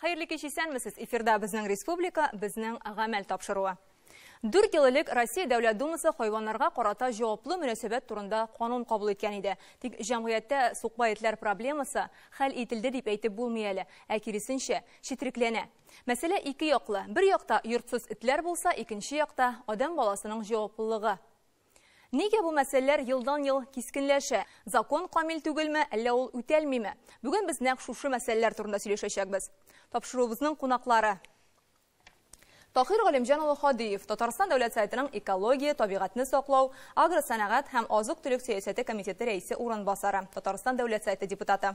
Хәерле кич исәнмесез. Эфирда безнең республика, безнең гамәл тапшыруы. Дүрт ел элек Россия Дәүләт Думасы хайваннарга карата җаваплы мөнәсәбәт турында канун кабул иткән иде. Тик җәмгыятьтә сукбай этләр проблемасы хәл ителде дип әйтеп булмый әле, ә киресенчә, четрекләнә. Мәсьәлә ике яклы. Бер якта йортсыз этләр булса, икенче якта адәм баласының җаваплылыгы. Нигә бу мәсьәләләр елдан-ел кискенләшә? Закон камил түгелме, әллә ул үтәлмиме? Бүген без нәкъ шушы мәсьәләләр турында сөйләшәчәкбез. Тапшыруыбызның кунаклары. Таһир Галимҗан улы Ходиев, Татарстан Дәүләт Советының экология, табигатьне саклау, агросәнәгать һәм азык-төлек сәясәте комитеты рәисе урынбасары, Татарстан Дәүләт Советы депутаты.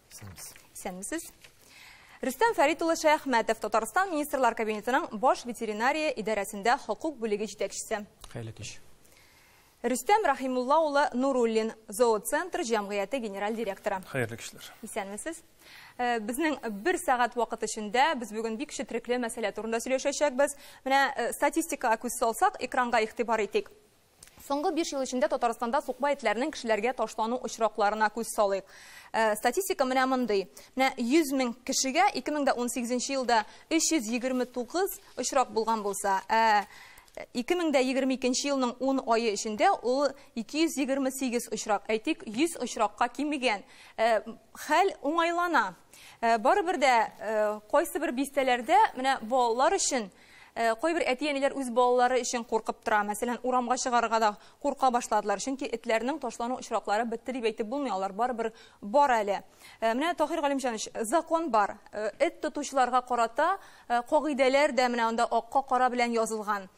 Исәнмесез. Исәнмесез. Рөстәм Фәрит улы Шәяхмәтов, Татарстан министрлар кабинетының баш ветеринария идарәсендә хокук бүлеге җитәкчесе. Хәйле кич. Рөстәм Рахимулла улы Нуруллин, зооцентр җәмгыяте генераль директоры. Хәерле кишләр. Исәнмесез. Э, безнең бер сәгать вакыт эчендә без бүген бик четрекле мәсьәлә турында сөйләшәчәкбез. Менә э, статистикага күз салсак, экранга игътибар итик. Соңгы биш ел эчендә Татарстанда сукбай этләрнең кешеләргә ташлану очракларына күз салыйк. Э, статистика менә мондый. Менә 100 мең кешегә 2018 елда 329 очрак булган булса, ә 2022 елның 10 айы эчендә ул 228 очрак, әйтик, 100 очракка кимегән. Э, хәл уңайлана. Э, барыбер дә кайсы бер бистәләрдә менә балалар өчен Э, кайбер әти-әниләр үз балалары өчен куркып тора. Мәсәлән, урамга чыгарырга да курка башладылар, чөнки этләрнең ташлану очраклары бетте дип әйтеп булмый, алар барыбер бар әле. Э, менә Таһир Галимҗанович, закон бар. Э, эт тотучыларга карата кагыйдәләр дә менә анда акка кара белән язылган.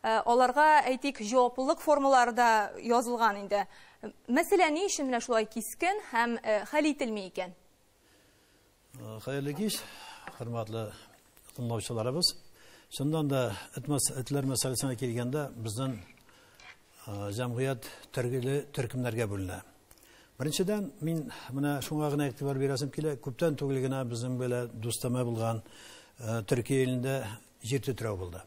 Аларга әйтик, җаваплылык формалары да язылган инде. Мәсәлән, ни өчен менә шулай кискен һәм хәл ителми икән? Хәерле кич, хөрмәтле тыңлаучыларыбыз. Чыннан да этләр мәсьәләсенә килгәндә, безнең җәмгыять төргеле төркемнәргә бүленә. Беренчедән, мин менә шуңа гына игътибар бирәсем килә. Күптән түгел генә безнең белә дустама булган Төркия илендә җир тетрәү булды.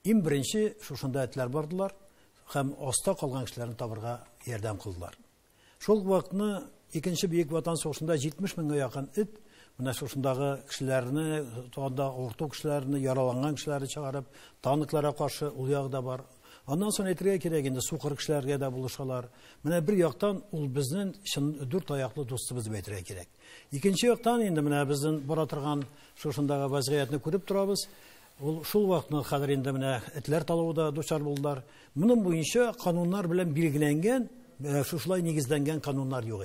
Иң беренче шушында этләр бардылар һәм аста калган кешеләрне табырга ярдәм кылдылар. Шул ук вакытны Икенче бөек Ватан сугышында 70 меңгә якын эт менә шушындагы кешеләрне, анда авырту кешеләрне, яраланган кешеләрне чыгарып, танкларга каршы ул ягы да бар. Аннан соң әйтергә кирәк инде, сукыр кешеләргә дә булышалар. Менә бер яктан ул безнең чын дүрт аяклы дустыбыз дип әйтергә кирәк. Икенче яктан инде менә безнең бара торган шушындагы вазгыятьне күреп торабыз. Ул шул вакытны хәзер инде менә этләр талавы да дучар булдылар. Моның буенча кануннар белән билгеләнгән, э, шушылай нигезләнгән кануннар юк.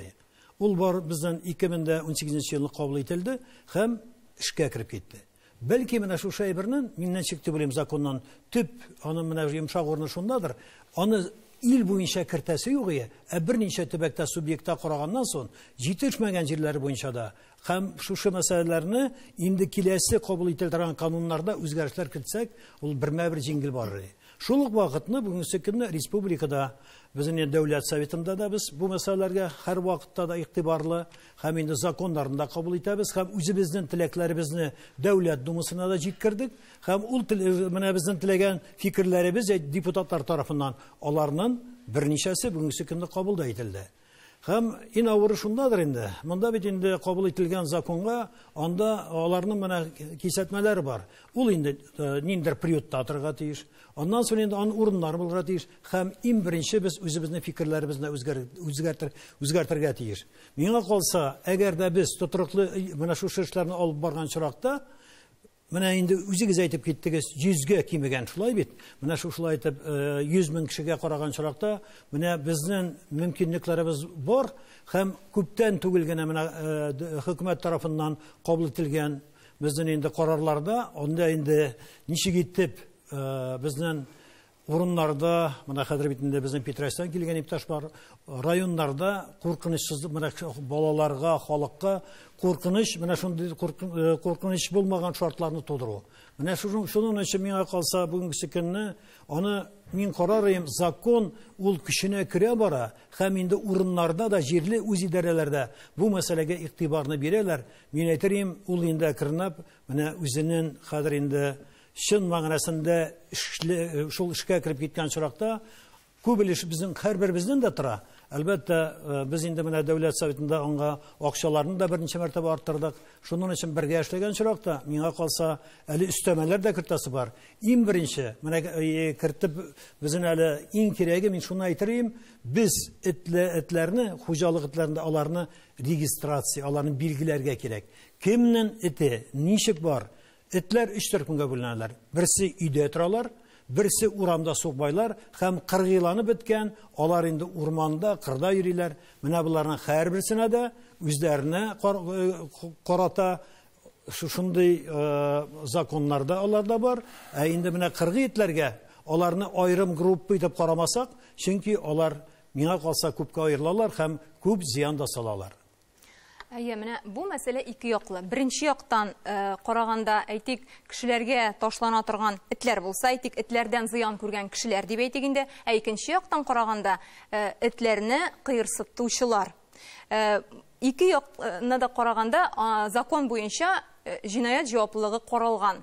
Ул бар бездән 2018 елны кабул ителде һәм эшкә кереп китте. Бәлки менә шушы әйбернен миннән чик дип уйлыйм законнан төп аны менә йомшак урыны шундадыр. Аны ил буенча кертәсе юк ие, ә берничә төбәктә субъектта караганнан соң җитешмәгән җирләре буенча да Һәм шушы мәсьәләләрне инде киләсе кабул ителә торган кануннарда үзгәрешләр кертсәк, ул бермә-бер җиңел барыр иде. Шул ук вакытны бүгенге көнне республикада безнең дәүләт советында да без бу мәсьәләләргә һәрвакытта да игътибарлы һәм инде законнарны да кабул итәбез һәм үзебезнең теләкләребезне дәүләт думасына да җиткердек һәм ул менә безнең теләгән фикерләребез депутатлар тарафыннан аларның берничәсе бүгенге көнне кабул да ителде. Һәм ин авыры шундадыр инде, монда бит инде кабул ителгән законга, анда аларның менә кисәтмәләр бар. Ул инде э, ниндер приютта атырга тиеш. Аннан соң инде ан урыннар булырга тиеш. Һәм ин беренче без үзебезне фикерләребезне үзгәр, үзгәртер, үзгәртергә тиеш. Миңа калса, әгәр дә без тотрыклы э, менә шушы эшләрне алып барган чоракта, Менә инде үзегез әйтеп киттегез, 100 гә кимегән, шулай бит? Менә шушылай итеп 100 э, мең кешегә караган чоракта, менә безнең мөмкинлекләребез бар һәм күптән түгел генә менә э, хөкүмәт тарафыннан кабул ителгән безнең инде карарларда, анда инде ничек итеп э, безнең урыннарда, менә хәзер бит инде безнең Питрәчтән килгән иптәш бар, районнарда куркынычсыз менә балаларга, халыкка куркыныч, менә шундый куркыныч булмаган шартларны тудыру. Менә шуның шуның өчен миңа калса бүгенге көнне аны мин карарым, закон ул көченә керә бара, һәм инде урыннарда да җирле үз идарәләрдә бу мәсьәләгә игътибарны бирәләр. Мин әйтерим, ул инде әкренләп менә үзенең хәзер инде Чын мәгънәсендә эшле, шул эшкә кереп киткән очракта күп өлеш безнең һәрберебезнең дә тора. Әлбәттә, э, без инде менә дәүләт советында аңа акчаларны да берничә мәртәбә арттырдык. Шуның өчен бергә эшләгән очракта, миңа калса, әле өстәмәләр дә кертәсе бар. Иң беренче, менә э, кертеп безнең әле иң кирәге, мин шуны әйтер идем, без этле этләрне, хуҗалык этләрендә аларны регистрация, аларны билгеләргә кирәк. Кемнең эте, ничек бар? Этләр өч төркемгә бүленәләр. Берсе өйдә торалар, берсе урамда сукбайлар һәм кыргыйланып беткән, алар инде урманда, кырда йөриләр. Менә боларның һәрберсенә дә үзләренә карата шушындый законнар да аларда бар. Ә инде менә кыргый этләргә аларны аерым группа итеп карамасак, чөнки алар миңа калса күпкә аерылалар һәм күп зыян да салалар. Әйе, менә бу мәсьәлә ике яклы. Беренче яктан э, караганда, әйтик, кешеләргә ташлана торган этләр булса, әйтик, этләрдән зыян күргән кешеләр дип әйтик инде. Ә икенче яктан караганда, э, этләрне кыерсытучылар. Э, ике якны да караганда, закон буенча җинаять җаваплылыгы каралган.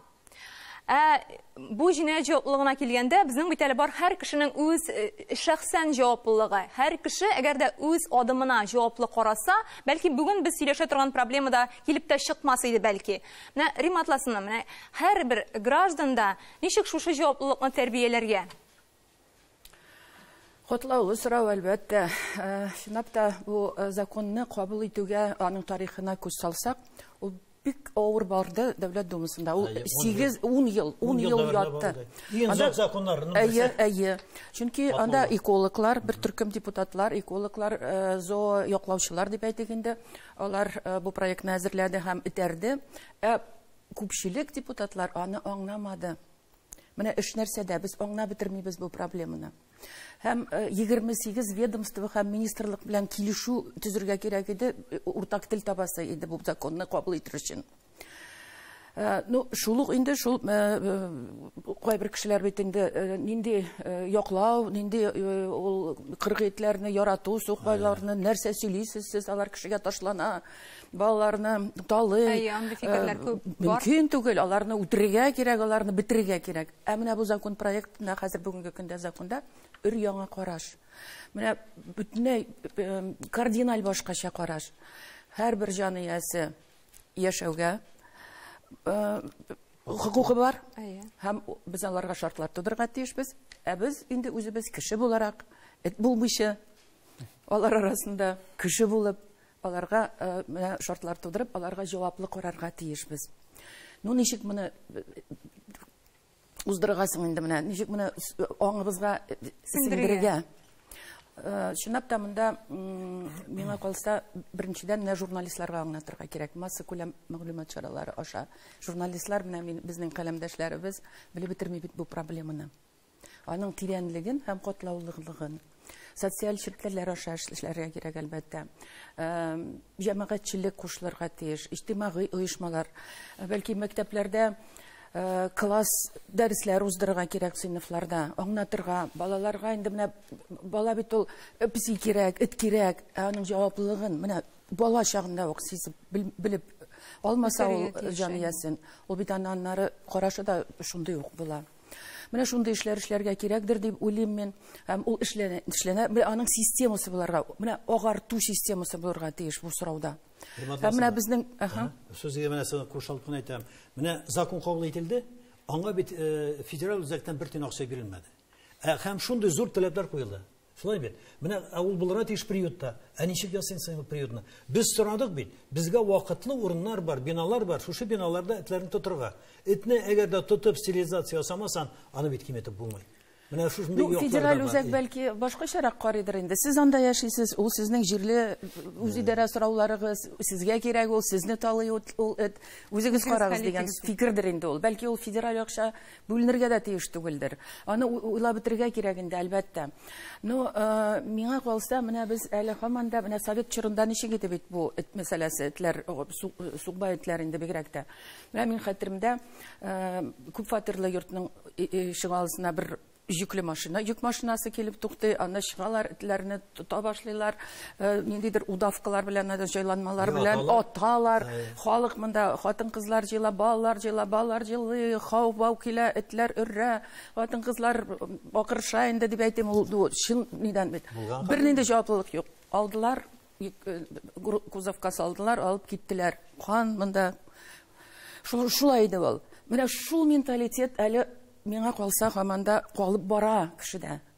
Ә бу җинаять җаваплылыгына килгәндә, безнең бит әле бар һәр кешенең үз э, шәхсән җаваплылыгы. Һәр кеше, әгәр дә үз адымына җаваплы караса, бәлки бүген без сөйләшә торган проблема да килеп тә чыкмас иде бәлки. Менә Рима Атласовна, менә һәрбер граждан да ничек шушы җаваплылыкны тәрбияләргә? Котлаулы сорау, әлбәттә. Чынлап та, бу законны кабул итүгә, аның тарихына күз салсак, ул бик авыр барды Дәүләт Думасында. Ул сигез, ун ел, ун ел ятты. Иң зур законнарның берсе. Әйе, әйе. Чөнки анда экологлар, бер төркем депутатлар, экологлар, зоояклаучылар дип әйтик инде, алар бу проектны әзерләде һәм этәрде. Ә күпчелек депутатлар аны аңламады. Менә өч нәрсәдә без аңлап бетермибез бу проблеманы. Һәм 28 э, ведомство һәм министрлык белән килешү төзергә кирәк иде, э, уртак тел табасы иде бу законны кабул итер өчен. Э, ну, шул ук инде шул кайбер кешеләр бит инде нинди яклау, нинди ул кыргыйтләрне ярату, сукбайларны нәрсә сөйлисез сез, алар кешегә ташлана. балаларны талый. Әйе, андый фикерләр э, күп бар. Мөмкин түгел, аларны үтерергә кирәк, аларны бетерергә кирәк. Ә менә бу закон проектында хәзер бүгенге көндә законда өр яңа караш. Менә бөтенләй э, кардиналь башкача караш. Һәрбер җан иясе яшәүгә э, хокукы бар. Әйе. Һәм без аларга шартлар тудырырга тиешбез. Ә без инде үзебез кеше буларак, эт булмыйча, алар арасында кеше булып Аларга менә шартлар тудырып, аларга җаваплы карарга тиешбез. Ну ничек моны уздырырга соң инде менә, ничек моны аңыбызга сеңдерергә? Чынлап та монда миңа калса, беренчедән менә журналистларга аңлатырга кирәк, массакүләм мәгълүмат чаралары аша. Журналистлар менә мин, безнең каләмдәшләребез белеп бетерми бит бу проблеманы. аның тирәнлеген һәм катлаулылыгын. Социаль челтәрләр аша эшләргә кирәк, әлбәттә. Җәмәгатьчелек кушылырга тиеш, иҗтимагый оешмалар. Бәлки мәктәпләрдә класс дәресләр уздырырга кирәк сыйныфларда, аңлатырга. Балаларга инде менә бала бит ул песи кирәк, эт кирәк, ә аның җаваплылыгын менә бала чагында ук сизеп, белеп алмаса ул җан иясен, ул бит аннары карашы да шундый ук була. Менә шундый эшләр эшләргә кирәкдер дип уйлыйм мин. Һәм ул эшләнә, эшләнә. Менә аның системасы буларга, менә агарту системасы буларга тиеш бу сорауда. Һәм менә безнең, аха. Сүзгә менә соң кушылып кына әйтәм. Менә закон кабул ителде, аңа бит э, федераль үзәктән бер тиен акча бирелмәде. Ә һәм шундый зур таләпләр куелды. Шулай бит. Менә ә ул булырга тиеш приютта. Ә ничек ясыйм соң приютны? Без сорадык бит. Безгә вакытлы урыннар бар, биналар бар. Шушы биналарда этләрне тотырга. Этне әгәр дә тотып стерилизация ясамасаң, аны бит киметеп булмый. Менә шушындый ну, федераль үзәк бәлки башкачарак карыйдыр инде. Сез анда яшисез, ул сезнең җирле үзидарә сорауларыгыз, сезгә кирәк ул, сезне талый ул эт. Үзегез карагыз дигән фикердер инде ул. Бәлки ул федераль акча Бүленергә дә тиеш түгелдер. Аны уйлап бетерергә кирәк инде, әлбәттә. Ну, миңа калса, менә без әле һаман да менә совет чорында ничек иде бит бу эт мәсьәләсе, этләр, сукбай этләр инде бигрәк тә. Менә минем хәтеремдә, күп фатирлы йортның ишегалдысына бер җөкле машина, йөк машинасы килеп туктый, анда чыгалар, этләрне тота башлыйлар, э, ниндидер удавкалар белән, э, җайланмалар белән аталар. Халык монда хатын-кызлар җыела, балалар җыела, балалар җыелый, хау-бау килә, этләр өрә, хатын-кызлар акырыша инде дип әйтим, ул чын нидән бит. Бернинди җаваплылык юк. Алдылар, э, кузовка салдылар, алып киттеләр. Кан монда. Шул шулай иде ул. Менә шул менталитет әле миңа калса һаманда калып бара кешедә.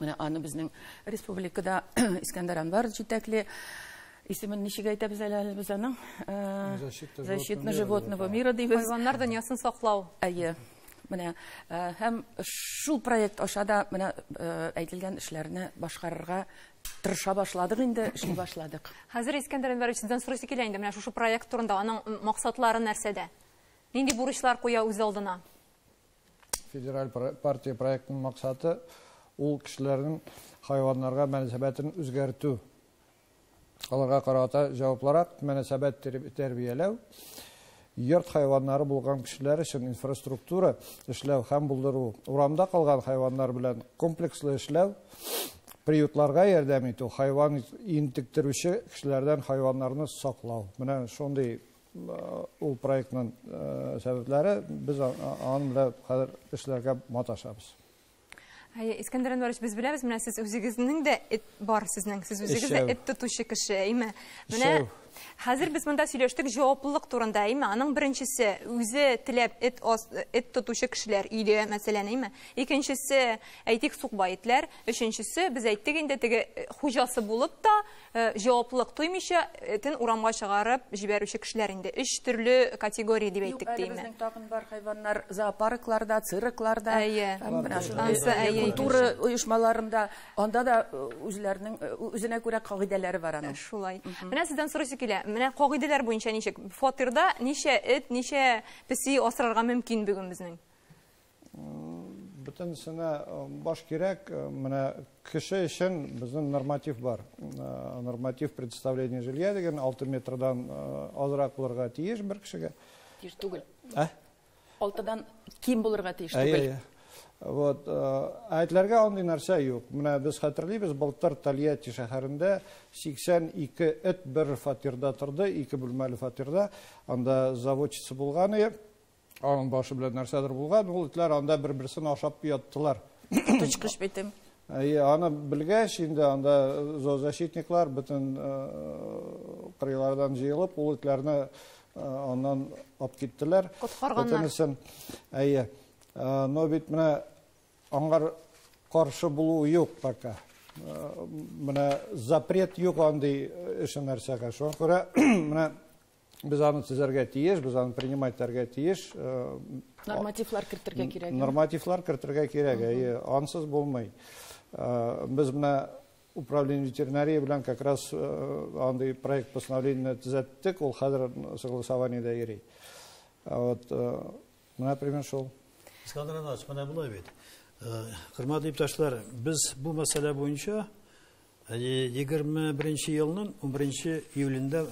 Менә аны безнең республикада Искәндәр Анвар җитәкли. Исемен ничек әйтәбез әле әле без аның? Защитно животного мира дибез. Хайваннар дөньясын саклау. Әйе. Менә һәм шул проект аша да менә әйтелгән эшләрне башкарырга тырыша башладык инде, эшли башладык. Хәзер Искәндәр Әнвәрович сездән сорыйсы килә инде менә шушы проект турында, аның максатлары нәрсәдә? Нинди бурычлар куя үз алдына? Федераль партия проектының максаты ул кешеләрнең хайваннарга мөнәсәбәтен үзгәртү. Аларга карата җаваплырак мөнәсәбәт тәрбияләү, йорт хайваннары булган кешеләр өчен инфраструктура эшләү һәм булдыру, урамда калган хайваннар белән комплекслы эшләү, приютларга ярдәм итү, хайван интектерүче кешеләрдән хайваннарны саклау. Менә шундый Ул проектның сәбәпләре, без аның белән хәзер эшләргә маташабыз. Әйе, Искәндәр Әнвәрович, без беләбез, менә сез үзегезнең дә эт бар сезнең, сез үзегез дә эт тотучы кеше, әйме? Менә хәзер без монда сөйләштек җаваплылык турында, әйме? Аның беренчесе, үзе теләп эт эт тотучы кешеләр өйдә, мәсәлән, әйме? Икенчесе, әйтик, сукбай итләр, өченчесе, без әйттек инде, теге хуҗасы булып та, Җаваплылык тоймыйча, этен урамга чыгарып җибәрүче кешеләр инде өч төрле категория дип әйттек, диме? Юк, әле безнең тагын бар хәйваннар зоопаркларда, циркларда, культура оешмаларында, анда да үзләренең, үзенә күрә кагыйдәләре бар аның. Шулай. Менә сездән сорыйсы килә, менә кагыйдәләр буенча ничек? Фатирда ничә эт, ничә песи асрарга мөмкин бүген безнең? Бөтенесенә баш кирәк. Менә кеше өчен безнең норматив бар. Норматив представление жилья дигән 6 метрдан азрак булырга тиеш бер кешегә. Тиеш түгел. Ә? 6-дан ким булырга тиеш түгел. Вот, әйтләргә андый нәрсә юк. Менә без хәтерлибез, былтыр Тольятти шәһәрендә 82 эт бер фатирда торды, ике бүлмәле фатирда. Анда заводчица булган иде. Аның башы белән нәрсәдер булган, ул этләр анда бер-берсен ашап яттылар. Тычкыч битем. Әйе, аны белгәч, инде анда зоозащитниклар бөтен кырыйлардан җыелып, ул этләрне аннан алып киттеләр. Коткарганнар. Бөтенесен. Әйе. Но бит менә аңар каршы булу юк пока. Менә запрет юк андый эше нәрсәгә. Шуңа күрә менә Без аны төзәргә тиеш, без аны принимать итәргә тиеш. Э, нормативлар кертергә кирәк. Нормативлар кертергә кирәк, әйе, ансыз булмый. Э, без менә управление ветеринарии белән как раз э, андый проект постановление төзәттек, ул хәзер согласованиедә йөри. Вот, менә пример шул. Искандер Иванович, менә булай бит. Хөрмәтле иптәшләр, без бу мәсьәлә буенча 21 елның 11 июлендә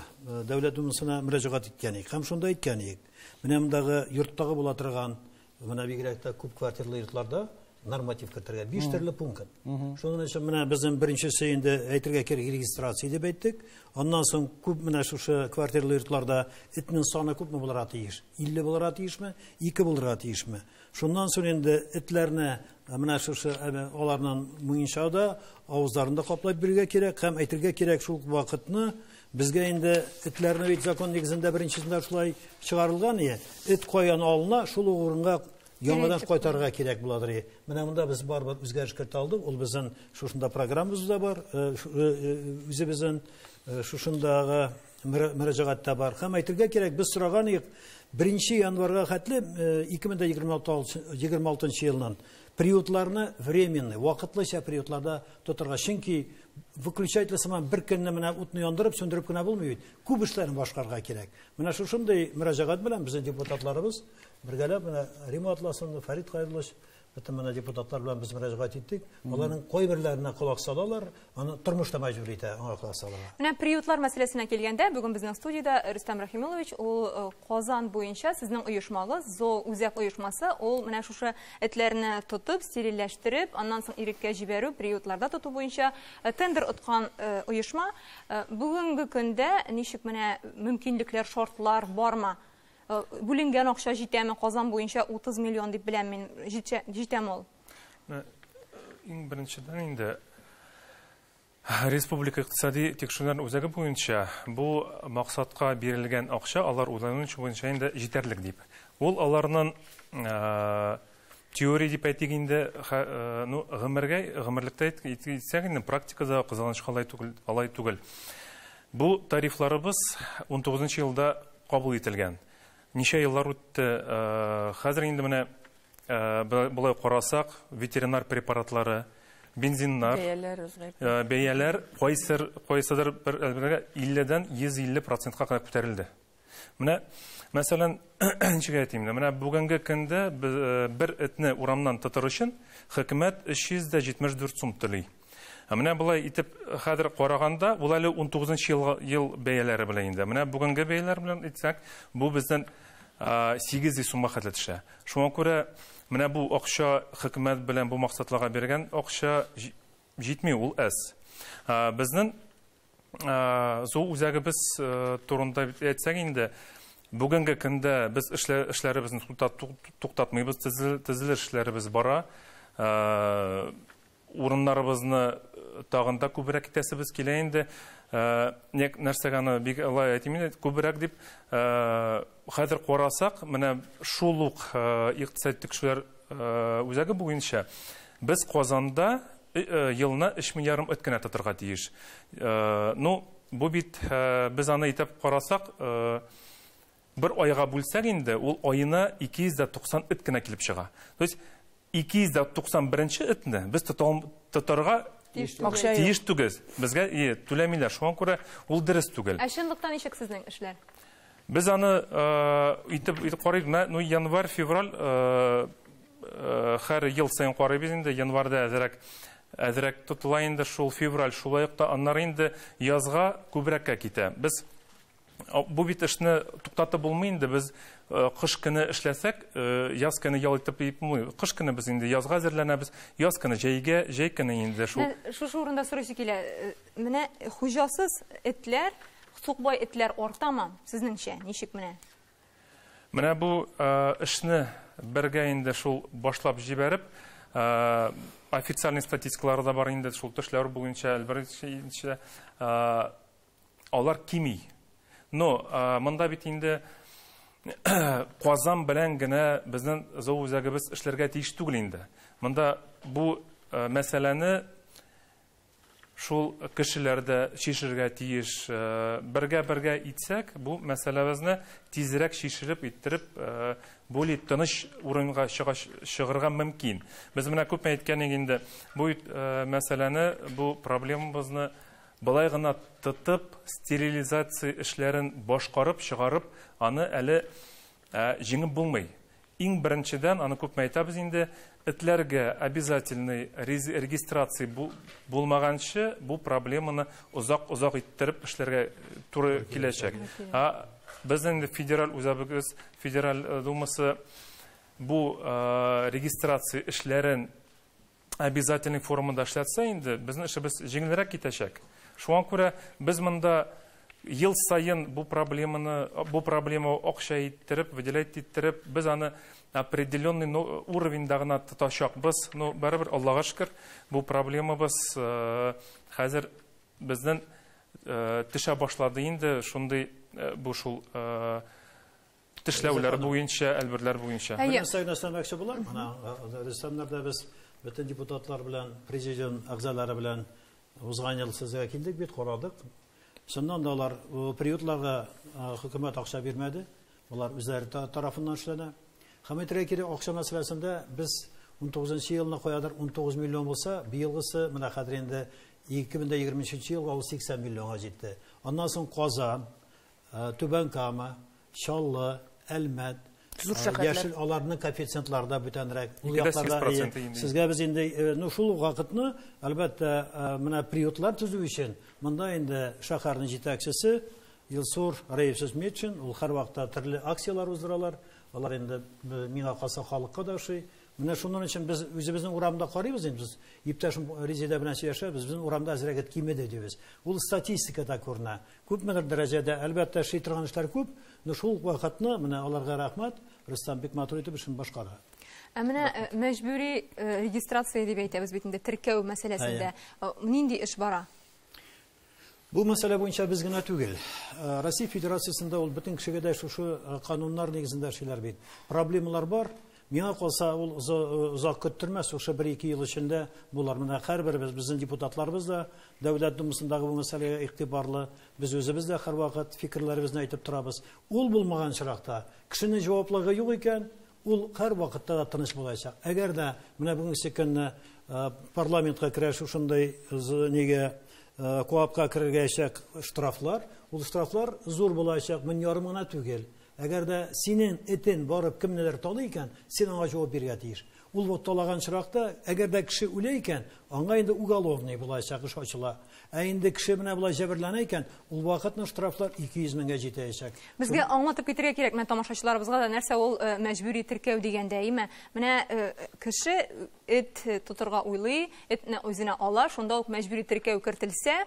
Дәүләт Думасына мөрәҗәгать иткән идек. Һәм шунда әйткән идек, менә мондагы йорттагы була торган, менә бигрәк тә күп квартирлы йортларда норматив кертергә. Биш төрле пункт. Шуның өчен менә безнең беренчесе инде әйтергә кирәк регистрация дип әйттек. Аннан соң күп менә шушы квартирлы йортларда этнең саны күпме булырга тиеш? 50 булырга тиешме? 2 булырга тиешме? Шуннан соң инде этләрне Ә менә шушы әнә аларның муенча да авызларын да каплап бирергә кирәк һәм әйтергә кирәк шул вакытны безгә инде этләрне бит закон нигезендә беренчесендә шулай чыгарылган ие эт каян алына шул урынга яңадан кайтарырга кирәк буладыр ие менә монда без барыбер үзгәреш кертә алдык ул безнең шушында программабызда бар э, э, э, үзебезнең шушындагы мөрәҗәгать тә бар. Һәм әйтергә кирәк, без сораган идек, 1 январьга хәтле 2026 э, елнын приютларны временный, вакытлыча приютларда тотырга. Чөнки выключатель сыман бер көнне менә утны яндырып, сүндереп кенә булмый бит. Күп эшләрне башкарга кирәк. Менә шушындый мөрәҗәгать белән безнең депутатларыбыз бергәләп менә Рима Атласовна, Фәрит Кайруллович Бөтен менә депутатлар белән без мөрәҗәгать иттек. Аларның кайберләренә колак салалар, аны тормыш та мәҗбүр итә аңа колак салырга. Менә приютлар мәсьәләсенә килгәндә, бүген безнең студиядә Рөстәм Рахимуллович, ул э, Казан буенча сезнең оешмагыз, ЗО үзәк оешмасы, ул менә шушы этләрне тотып, стерильләштереп, аннан соң иреккә җибәрү, приютларда тоту буенча э, тендер откан э, оешма. Бүгенге көндә ничек менә мөмкинлекләр, шартлар бармы? Э, бүленгән акча җитәме казан буенча 30 миллион дип беләм мин җитәм ул э, иң беренчедән инде республика икътисади тикшерүләр үзәге буенча бу максатка бирелгән акча алар уйлануынча буенча инде җитәрлек дип ул аларның э, Теория дип әйтик инде, хә, э, ну, гомергә, гомерлектә әйт- әйт- әйтсәк инде, практикада кызганычка алай түгел, алай түгел. Бу тарифларыбыз 19 елда кабул ителгән. Ничә еллар үтте, э, хәзер инде менә э, б- болай карасак, ветеринар препаратлары, бензиннар, Бәяләр үзгәрде. э, бәяләр кайсыр, кайсыдыр бер әлбәттә 50-дән 150 процентка кадәр күтәрелде. Менә, мәсәлән, ничек әйтим инде, менә бүгенге көндә э, бер этне урамнан тотыр өчен хөкүмәт 374 сум түли. Ә менә болай итеп э, хәзер караганда, ул әле 19 ел, ел бәяләре белән инде. Менә бүгенге бәяләр белән әйтсәк, бу безнең 800 сумга хәтле төшә. Шуңа күрә менә бу акча хөкүмәт белән бу максатларга биргән акча җитми, ул әз. Безнең Ә, Зу үзәгебез э, турында әйтсәк инде, бүгенге көндә без эшлә- эшләребезне туктат- тук- туктатмыйбыз, төзел- төзелеш эшләребез бара. Ә, Урыннарыбызны э, тагын да күбрәк итәсебез килә инде. Ә, нек- Нәрсәгә аны бик алай әйтим инде, күбрәк дип, ә, хәзер карасак, менә шул ук э, икътисади тикшерүләр э, үзәге буенча без Казанда Елына өч мең ярым эт кенә тотырга тиеш. Ну, бу бит, без аны итеп карасак, бер айга бүлсәк инде, ул аена 290 эт кенә килеп чыга. То есть, 291 нче этне без тотарга тиеш түгел. Безгә түләмиләр, шуңа күрә ул дөрес түгел. Ә чынлыкта ничек сезнең эшләр? Без аны итеп карыйк, менә январь-февраль Хәр ел саен карыйбыз инде, январьда әзерәк әзерәк тотыла инде шул, февраль шулай ук та, аннары инде язга күбрәккә китә. Без бу бит эшне туктатып булмый инде, без кыш көне эшләсәк, яз көне ял итеп дип булмый. Кыш көне без инде язга әзерләнәбез, яз көне җәйгә, җәй көне инде шул. Менә шушы урында сорыйсы килә, менә хуҗасыз этләр, сукбай этләр артамы, сезнеңчә, ничек менә? Менә бу эшне бергә инде шул башлап җибәреп, официальный статистикалары да бар инде шул төшләр буенча, әлбәттә, алар кими. Но монда бит инде Казан белән генә безнең зоо үзәгебез эшләргә тиеш түгел инде. Монда бу мәсьәләне Шул кешеләр дә чишергә тиеш. Бергә-бергә итсәк, бу мәсьәләбезне тизрәк чишелеп, иттереп, более тыныч урынга чыгарга мөмкин. Без менә күпме әйткәнек инде, бу мәсьәләне, бу проблемабызны болай гына тотып, стерилизация эшләрен башкарып, чыгарып, аны әле Ә җиңеп булмый. Иң беренчедән, аны күпме әйтәбез инде, этләргә обязательный регистрация булмаганчы, бу проблеманы озак-озак иттереп эшләргә туры киләчәк. Ә без инде федераль үзәбегез, федераль думасы бу регистрация эшләрен обязательный формада эшләтсә инде, безнең эшебез җиңелрәк китәчәк. Шуңа күрә без монда ел саен бу проблеманы, бу проблема акча иттереп, выделять иттереп, без аны определенный ну, уровеньда гына тотачакбыз. Ну, барыбер Аллага шөкер, бу проблемабыз э, хәзер безнең э, төшә башлады инде, шундый э, бу шул Тешләүләр буенча, әлберләр буенча. Бер нәрсә генә өстәмәкче булам. Менә рәссамнарда без бөтен депутатлар белән, президиум әгъзалары белән узган ел сезгә килдек бит, карадык. Чыннан да алар приютларга хөкүмәт акча бирмәде. Алар үзләре тарафыннан эшләнә. Һәм әйтергә кирәк, акча мәсьәләсендә без 19 нчы елны каядыр 19 миллион булса, быелгысы менә хәзер инде 2023 елга ул 80 миллионга җитте. Аннан соң Казан, Түбән Кама, Чаллы, Әлмәт, Зур шәһәрләр. Яшел аларның коэффициентлары да бүтәнрәк. Ул Икедә сигез якларда, процент э, инде. Сезгә без инде э, ну шул ук вакытны, әлбәттә, э, менә приютлар төзү өчен монда инде шәһәрнең җитәкчесе Илсур Раевсыз Метшин, ул һәрвакытта төрле акцияләр уздыралар. Алар инде э, миңа калса халыкка да ошый. Менә шуның өчен без үзебезнең урамда карыйбыз инде без иптәшем Резеда белән сөйләшәбез, безнең урамда әзрәк кимеде дибез. Ул статистикада күренә. Күпмедер дәрәҗәдә, әлбәттә, эшли торган эшләр күп, но шул ук вакытны, менә аларга рәхмәт, Рөстәм бик матур итеп эшен башкара. Ә менә э, мәҗбүри э, регистрация дип әйтәбез бит инде, теркәү мәсьәләсендә э, нинди эш бара? Бу мәсьәлә буенча без генә түгел. Э, Россия Федерациясендә ул бөтен кешегә дә шушы э, кануннар нигезендә эшлиләр бит. Проблемалар бар, Миңа калса, ул озак көттермәс, шушы бер-ике ел эчендә булыр. Менә һәрберебез, безнең депутатларыбыз да Дәүләт Думасындагы бу мәсьәләгә игътибарлы, без үзебез дә һәрвакыт фикерләребезне әйтеп торабыз. Ул булмаган очракта, кешенең җаваплылыгы юк икән, ул һәрвакытта да тыныч булачак. Әгәр дә менә бүгенге көнне парламентка керә шушындый нигә КОАПка кергәчәк штрафлар, ул штрафлар зур булачак, мең ярым гына түгел. Әгәр дә синен этен барып кемнедер талый икән, син аңа җавап бирергә тиеш. Ул вот талаган очракта, әгәр дә кеше үлә икән, аңа инде уголовный булаячак эш ачыла. Ә инде кеше менә болай җәберләнә икән, ул вакытны штрафлар 200 меңгә җитәячәк. Безгә аңлатып китергә кирәк менә тамашачыларыбызга да, нәрсә ул э, мәҗбүри теркәү дигәндә, әйме? Менә э, кеше эт тотырга уйлый, этне үзенә ала, шунда ук мәҗбүри теркәү кертелсә,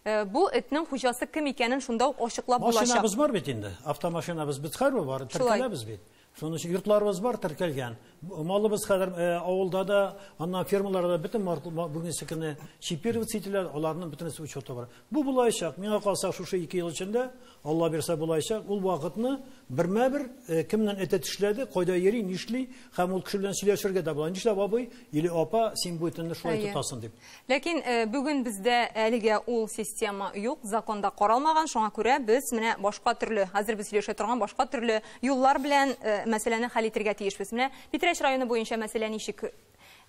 Э, бу этнең хуҗасы кем икәнен шунда ук ачыклап булачак. Машинабыз бар бит инде. Автомашинабыз бит хәрбе бар, теркәләбез бит. Шуның өчен йортларыбыз бар теркәлгән. Малыбыз хәзер э, авылда да, аннан фермаларда бөтен бүгенге көне чипироваться ителәләр, аларның бөтенесе учеты бар. Бу булаячак. Миңа калса шушы 2 ел эчендә Алла бирсә булаячак. Ул вакытны бермә-бер э, кемнән әтә тешләде, кайда йөри, нишли, һәм ул кеше белән сөйләшергә дә була. Нишләп абый или апа син бу итемне шулай тотасың дип. Ләкин бүген бездә әлегә ул система юк, законда каралмаган, шуңа күрә без менә башка төрле, хәзер без сөйләшә торган башка төрле юллар белән мәсьәләне хәл итергә тиешбез. Менә Питрәч районы буенча мәсьәлә ничек?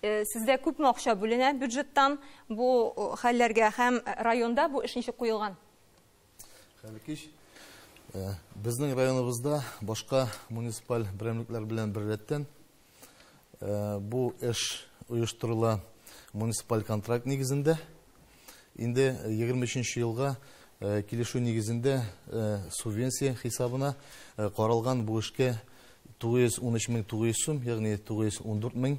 Сездә күпме акча бүленә бюджеттан бу хәлләргә һәм районда бу эш ничек куелган? Хәлкич, э, безнең районыбызда башка муниципаль берәмлекләр белән берләттән э, бу эш оештырыла муниципаль контракт нигезендә. Инде 23 елга э, килешү нигезендә э, субвенция хисабына э, каралган бу эшкә 913 мең 900 сум, ягъни 914 мең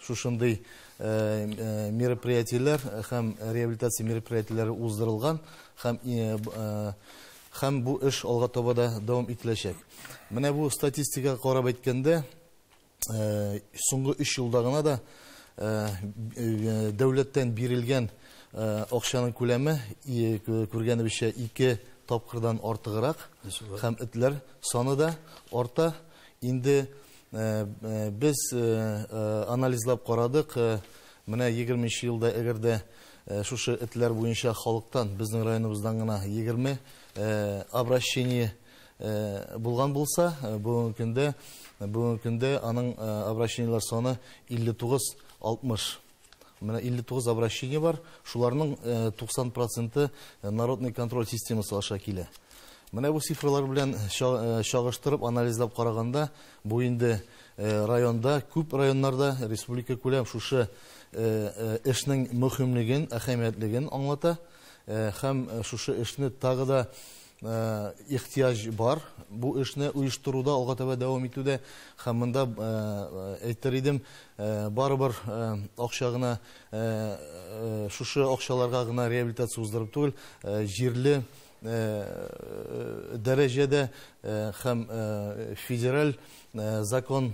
Шушындый мероприятиеләр һәм реабилитация мероприятиеләре уздырылган һәм һәм бу эш алга таба да дәвам ителәчәк. Менә бу статистикага карап әйткәндә, соңгы 3 елда гына да дәүләттән бирелгән акчаның күләме күргәнебезчә 2 тапкырдан артыграк һәм этләр саны да арта. Инде Без анализлап карадык, менә егерменче елда әгәр дә шушы этләр буенча халыктан, безнең районыбыздан гына егерме обращение булган булса, бүгенге көндә, бүгенге көндә аның обращениеләр саны илле тугыз, алтмыш Менә 59 обращение бар, шуларның 90 э, проценты э, народный контроль системасы аша килә. Менә бу цифралар белән э, чагыштырып анализлап караганда, бу инде районда, күп районнарда республика күләм шушы эшнең мөһимлеген, әһәмиятлеген аңлата һәм шушы эшне тагы да ихтыяҗ бар бу эшне оештыруда алга таба дәвам итүдә һәм монда әйтер идем барыбер акча гына шушы акчаларга гына реабилитация уздырып түгел җирле дәрәҗәдә һәм федераль закон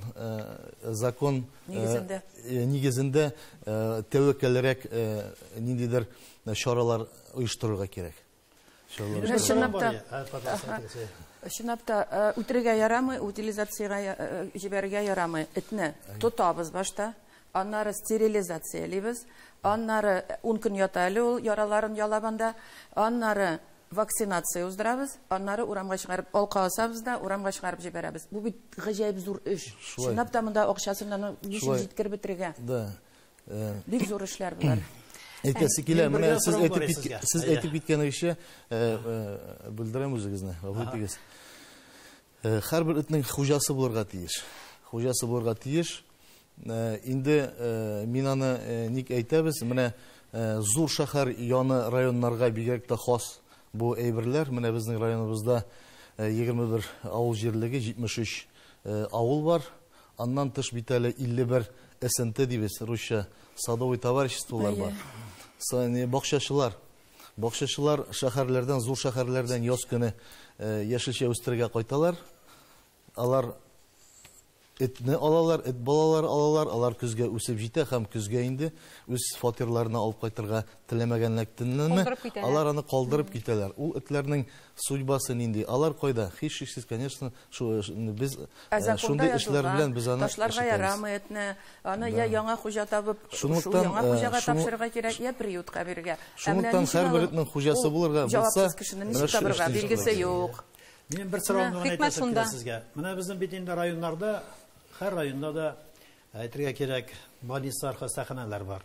закон нигезендә нигезендә тәвәккәлрәк ниндидер чаралар оештырырга кирәк Чынлап та, чынлап та, үтерергә ярамый, утилизациягә җибәрергә ярамый этне. Тотабыз башта, аннары стерилизациялибез, аннары ун көн ята әле ул, яраларын ялап анда, аннары вакцинация уздырабыз, аннары урамга чыгарып алка асабыз да, урамга чыгарып җибәрәбез. Бу бит гаҗәеп зур эш. Чынлап та монда акчасын аны ничек җиткереп бетерергә? Да. Бик зур эшләр болар. Әйтәсе килә, менә сез әйтеп киткән, сез әйтеп киткәнегезчә, белдерәм үзегезне, гафу итегез. Һәрбер этнең хуҗасы булырга тиеш. Хуҗасы булырга тиеш. Инде мин аны ник әйтәбез, менә зур шәһәр яны районнарга бигрәк тә хас бу әйберләр. Менә безнең районыбызда 21 авыл җирлеге, 73 авыл бар. Аннан тыш бит әле 51 СНТ дибез русча, садовый товариществолар бар. Әйе. Бакчачылар. Бакчачылар шәһәрләрдән, зур шәһәрләрдән яз көне яшелчә үстерергә кайталар. Алар этне алалар, эт балалары алалар, алар көзгә үсеп җитә һәм көзгә инде үз фатирларына алып кайтырга теләмәгәнлектәнме, алар аны калдырып китәләр. Ул этләрнең судьбасы нинди? Алар кайда? Һичшиксез, конечно, Ә законда язылган, ташларга ярамый этне, аны я яңа хуҗа табып, шул яңа хуҗага тапшырырга кирәк, я приютка бирергә. Ә менә ул җавапсыз кешене ничек табарга, билгесе юк. Минем бер сорауым гына әйтәсе килә сезгә. Менә безнең бит инде районнарда, һәр районда да, әйтергә кирәк, больницалар, хастаханәләр бар.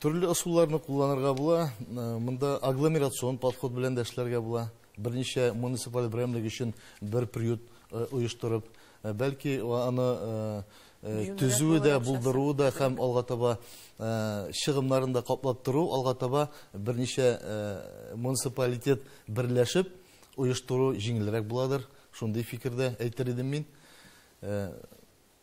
Төрле ысулларны кулланырга була. Монда агломерацион подход белән дә эшләргә була. Берничә муниципаль берәмлек өчен бер приют оештырып, бәлки аны төзүе дә, булдыруы да һәм алга таба чыгымнарын да каплап тору, алга таба берничә муниципалитет берләшеп оештыру җиңелрәк буладыр. Шундый фикердә әйтер идем мин.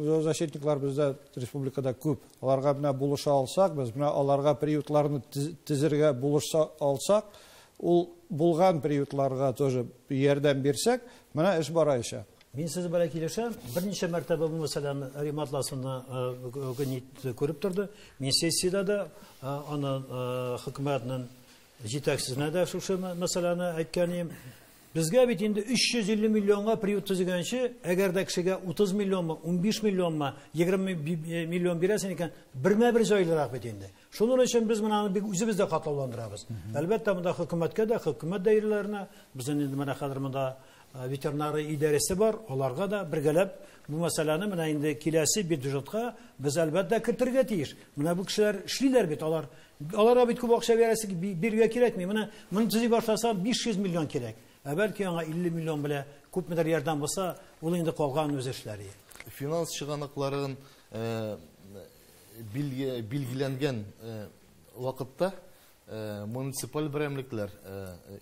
Зоозащитниклар бездә республикада күп. Аларга менә булыша алсак, без менә аларга приютларны тезергә булышса алсак, ул булган приютларга тоже ярдәм бирсәк, менә эш бараячак. Мин сезнең белән килешәм. Берничә мәртәбә бу мәсьәләне Рим атласында Гнит күреп торды. Мин сессиядә дә аны хөкүмәтнең җитәкчесенә дә шушы мәсьәләне әйткән идем. Безгә бит инде 350 миллионга приют төзегәнче, әгәр дә кешегә 30 миллионмы, 15 миллионмы, 20 миллион бирәсең икән, бермә-бер җайлырак бит инде. Шуның өчен без менә аны бик үзебез дә катлауландырабыз. Әлбәттә, монда хөкүмәткә дә, хөкүмәт даирәләренә, безнең инде менә хәзер монда ветеринария идарәсе бар, аларга да бергәләп бу мәсьәләне менә инде киләсе бюджетка без әлбәттә кертергә тиеш. Менә бу кешеләр эшлиләр бит, алар Аларга бит күп акча бирәсе бирергә кирәкми. Менә моны төзи башласа 500 миллион кирәк. Ә бәлки аңа 50 миллион белә күпмедер ярдәм булса, ул инде калган үз эшләре. Финанс чыганакларын э, билгеләнгән э, вакытта э, муниципаль берәмлекләр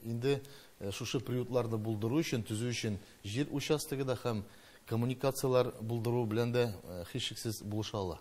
инде шушы приютларны булдыру өчен, төзү өчен җир участогы да һәм коммуникацияләр булдыру белән дә һичшиксез булыша ала.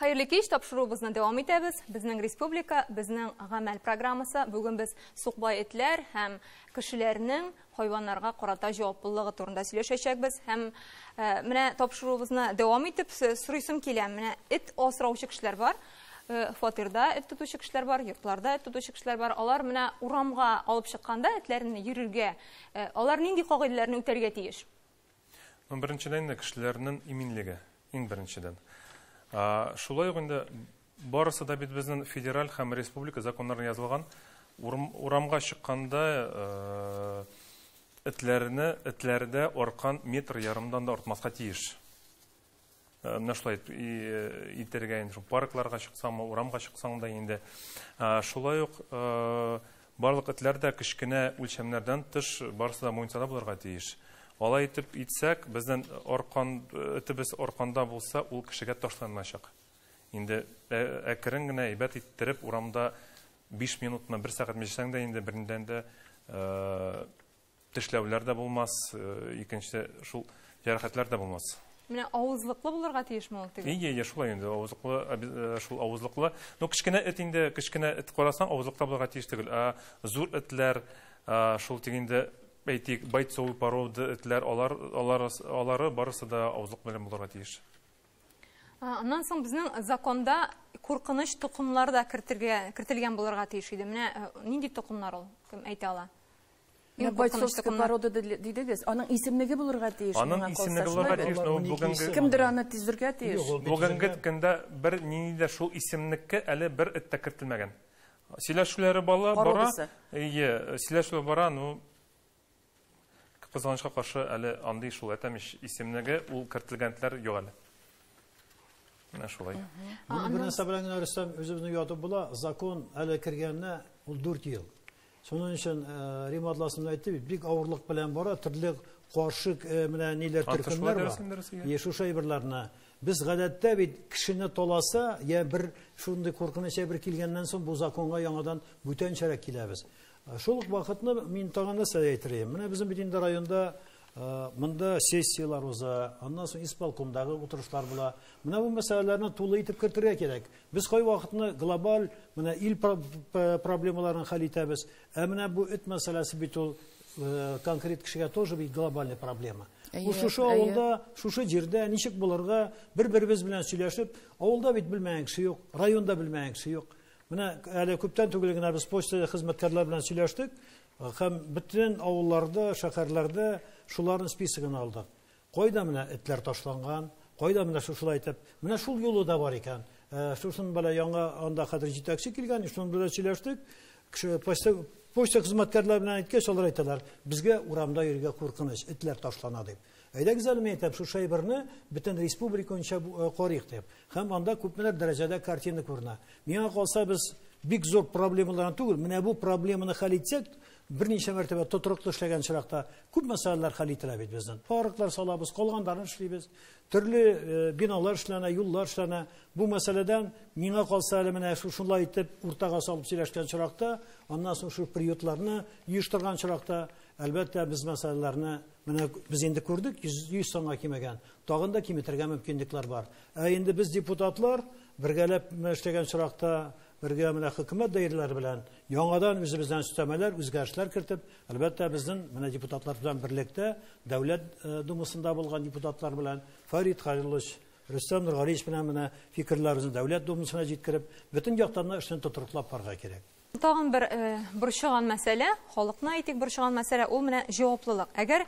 Хәерле кич, тапшыруыбызны дәвам итәбез. Безнең республика, безнең гамәл программасы. Бүген без сукбай этләр һәм кешеләрнең хайваннарга карата җаваплылыгы турында сөйләшәчәкбез. Һәм э, менә тапшыруыбызны дәвам итеп сорыйсым килә. Менә эт асраучы кешеләр бар. Э, фатирда эт тотучы кешеләр бар, йортларда эт тотучы кешеләр бар. Алар менә урамга алып чыкканда этләрне йөрергә, э, алар нинди кагыйдәләрне үтәргә тиеш? Ну, беренчедән инде кешеләрнең иминлеге, иң беренчедән. Шулай ук инде барысы да бит безнең федераль һәм республика законнарына язылган. Урамга чыкканда этләрне, этләрдә аркан метр ярымдан да артмаска тиеш. Э, менә шулай э, итәргә инде шул паркларга чыксаңмы урамга чыксаң да инде э, шулай ук барлык этләр дә кечкенә үлчәмнәрдән тыш барысы да муниципаль булырга тиеш алай итеп итсәк безнең аркан этебез арканда булса ул кешегә ташланмаячак инде әкрен генә әйбәт иттереп урамда биш минутмы бер сәгатьме җисәң дә инде бердән дә Тешләүләр дә булмас, икенче шул җәрәхәтләр дә булмас. Менә авызлыклы булырга тиешме ул теге? Ие, ие, шулай инде, авызлыклы, э, шул авызлыклы. Ну, кечкенә эт инде, кечкенә эт карасаң, авызлыкта булырга тиеш түгел. Ә зур этләр, шул тик инде әйтик, бойцовый порода этләр, алар, алар, алары барысы да авызлык белән булырга тиеш. Аннан соң безнең законда куркыныч токымлар да кертергә, кертелгән булырга тиеш иде. Менә э, нинди токымлар ул? Кем әйтә ала? Иң куркыныч порода дидегез, аның исемлеге булырга тиеш. Аның исемлеге булырга тиеш, но бүгенге кемдер аны тизергә тиеш. Бүгенге көндә бер нинди дә шул исемлеккә әле бер эт тә кертелмәгән. Сөйләшүләре бала бара. Ие, сөйләшүләре бара, но кызганычка каршы әле андый шул әтәмеш исемлеге ул кертелгәнләр юк әле. Менә шулай. Бу нәрсә белән генә Рөстәм үзебезне ятып була, закон әле кергәненә ул 4 ел. Шуның өчен Рим атласында әйтте бит, бик авырлык белән бара, төрле каршы менә ниләр төркемнәр бар. Е, шушы әйберләрне. Без гадәттә бит кешене таласа, я бер шундый куркыныч әйбер килгәннән соң бу законга яңадан бүтәнчәрәк киләбез. Шул ук вакытны мин тагын нәрсә әйтергә. Менә безнең бит инде районда монда сессияләр уза, аннан соң исполкомдагы утырышлар була. Менә бу мәсьәләләрне тулы итеп кертергә кирәк. Без кайвакытны глобаль менә ил проблемаларын хәл итәбез, ә менә бу эт мәсьәләсе бит ул конкрет кешегә тоже бит глобальный проблема. Ул шушы авылда, шушы җирдә ничек булырга, бер-беребез белән сөйләшеп, авылда бит белмәгән кеше юк, районда белмәгән кеше юк. Менә әле күптән түгел генә без почта хезмәткәрләре белән сөйләштек һәм бөтен авылларда, шәһәрләрдә шуларның списогын алдык. Кайда менә этләр ташланган, кайда менә шушылай итеп, менә шул юлы да бар икән. Ә, шусын белә яңа анда хәзер җитәкче килгән, шуның белән сөйләштек. Кеше почта, почта хезмәткәрләре белән әйткәч, алар әйтәләр, безгә урамда йөрергә куркыныч, этләр ташлана дип. Әйдәгез әле, мин әйтәм, шушы әйберне бөтен республика буенча э, карыйк дип. Һәм анда күпмеләр дәрәҗәдә картина күренә. Миңа калса, без бик зур проблемаларны түгел, менә бу проблеманы хәл итсәк, Берничә мәртәбә тотрыклы эшләгән очракта күп мәсьәләләр хәл ителә бит безнең. Арыклар салабыз, калгандарын эшлибез. Төрле э, биналар эшләнә, юллар эшләнә. Бу мәсьәләдән миңа калса әле менә шушылай итеп уртага салып сөйләшкән очракта, аннан соң шу приютларны оештырган очракта, әлбәттә, без мәсьәләләрне менә без инде күрдек, 100 санга кимегән. Тагын да киметергә мөмкинлекләр бар. Ә инде без депутатлар бергәләп эшләгән очракта бергә менә хөкүмәт даирәләре белән Яңадан үзебездән өстәмәләр, үзгәрешләр кертеп, әлбәттә, безнең менә депутатлар белән берлектә, Дәүләт Думасында булган депутатлар белән, Фәрит Хәлилович, Рөстәм Нургалиевич белән менә фикерләребезне Дәүләт Думасына җиткереп, бөтен яктан да эшне тотрыклап барырга кирәк. Тагын бер борчыган мәсьәлә, халыкны әйтик борчыган мәсьәлә, ул менә җаваплылык. Әгәр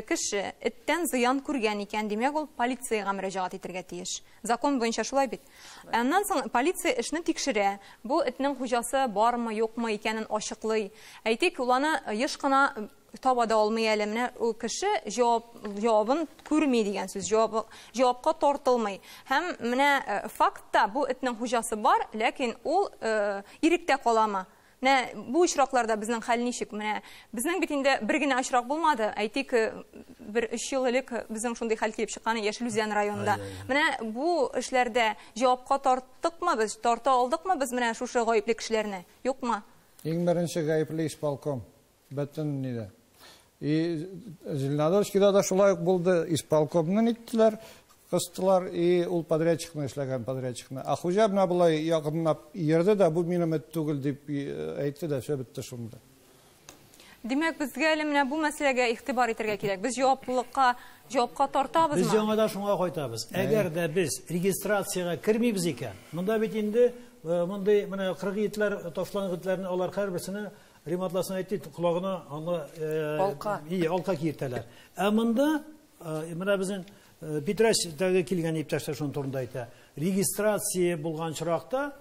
кеше эттән зыян күргән икән, димәк, ул полициягә мөрәҗәгать итәргә тиеш. Закон буенча шулай бит. Ә аннан соң полиция эшне тикшерә. Бу этнең хуҗасы бармы, юкмы икәнен ачыклый. Әйтик, ул аны еш кына таба да алмый әле. Менә ул кеше җавабын күрми дигән сүз, җавапка тартылмый. Һәм менә фактта бу этнең хуҗасы бар, ләкин ул иректә каламы? Менә бу очракларда безнең хәл ничек? Менә безнең бит инде бер генә очрак булмады. Әйтик, бер 3 ел элек безнең шундый хәл килеп чыккан Яшел Үзән районында. Менә бу эшләрдә җавапка тарттыкмы без, тарта алдыкмы без менә шушы гаепле кешеләрне? Юкмы? Иң беренче гаепле исполком. Бөтен нидә. И Зеленодольскида да шулай ук булды. Исполкомны ниттеләр, кыстылар, и ул подрядчикны эшләгән подрядчикны. А хуҗа менә болай якынлап йөрде дә, бу минем эт түгел дип әйтте дә, все бетте шунда. Димәк, безгә әле менә бу мәсьәләгә игътибар итәргә кирәк. Без җаваплылыкка, җавапка тартабызмы? Без яңа да шуңа кайтабыз. Әгәр дә без регистрациягә кермибез икән, монда бит инде мондый менә кыргый этләр, ташланган этләрне алар һәрберсенә Рим атласын әйтте, колагына аңа алка. И, алка киертәләр. Ә монда менә безнең Питрәчтәге килгән иптәшләр шуның турында әйтә. Регистрация булган чоракта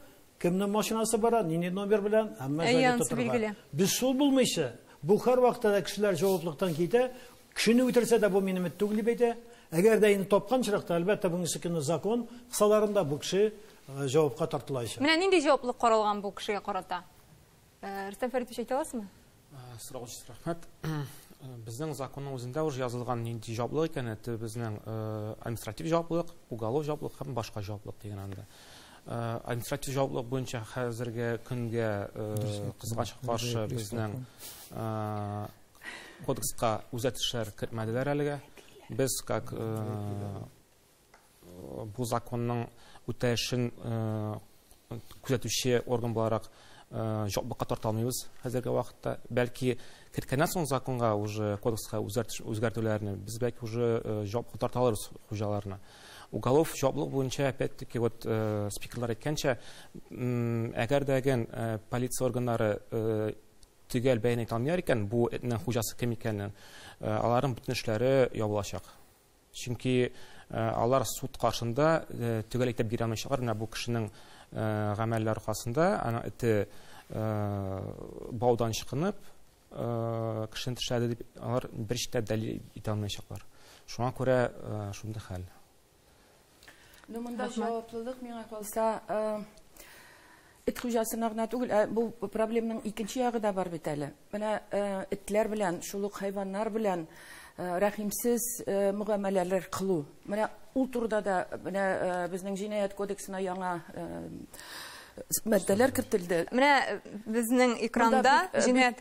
кемнең машинасы бара, нинди номер белән, әмма заявка тотырга. Без шул булмыйча, бу һәр вакытта да кешеләр җаваплылыктан китә. Кешене үтерсә дә бу минем эт түгел дип әйтә. Әгәр дә инде тапкан чоракта, әлбәттә, бүгенге көнне закон кысаларында бу кеше җавапка тартылачак. Менә нинди җаваплылык каралган бу кешегә карата? Э, Рөстәм Фәритович әйтә аласызмы? Э, сорау өчен рәхмәт. Э, безнең законның үзендә уже язылган нинди җаваплылык икәне, это безнең административ җаваплылык, уголов җаваплылык һәм башка җаваплылык дигән анда. Административ җаваплылык буенча хәзерге көнгә кызгач каршы безнең кодекска үзгәрешләр кертмәделәр әлегә. Без как бу законның үтәешен күзәтүче орган буларак җаваплылыкка тарта алмыйбыз хәзерге вакытта. Бәлки киткәннән соң законга уже кодекска үзгәртүләрне без бәлки уже җаваплылыкка тарта алырбыз хуҗаларны. Уголов җаваплылык буенча опять-таки вот спикерлар әйткәнчә, әгәр дә гән полиция органнары төгәл бәян итә алмыйлар икән бу этнең хуҗасы кем икәнен, аларның бөтен эшләре ябылачак. Чөнки алар суд каршында төгәл әйтеп бирә алмыйчалар, менә бу кешенең гамәле аркасында, аның эте баудан чыкынып, кешене тешләде дип алар бер читтә дәлил итә алмыйчалар. Шуңа күрә шундый хәл. Ну, монда җаваплылык миңа калса, эт хуҗасына гына түгел, ә бу проблемның икенче ягы да бар бит әле. Менә этләр белән, шул ук хайваннар белән рәхимсез мөгамәләләр кылу. Менә ул турыда да менә безнең җинаять кодексына яңа Мәддәләр кертелде. Менә безнең экранда җинаять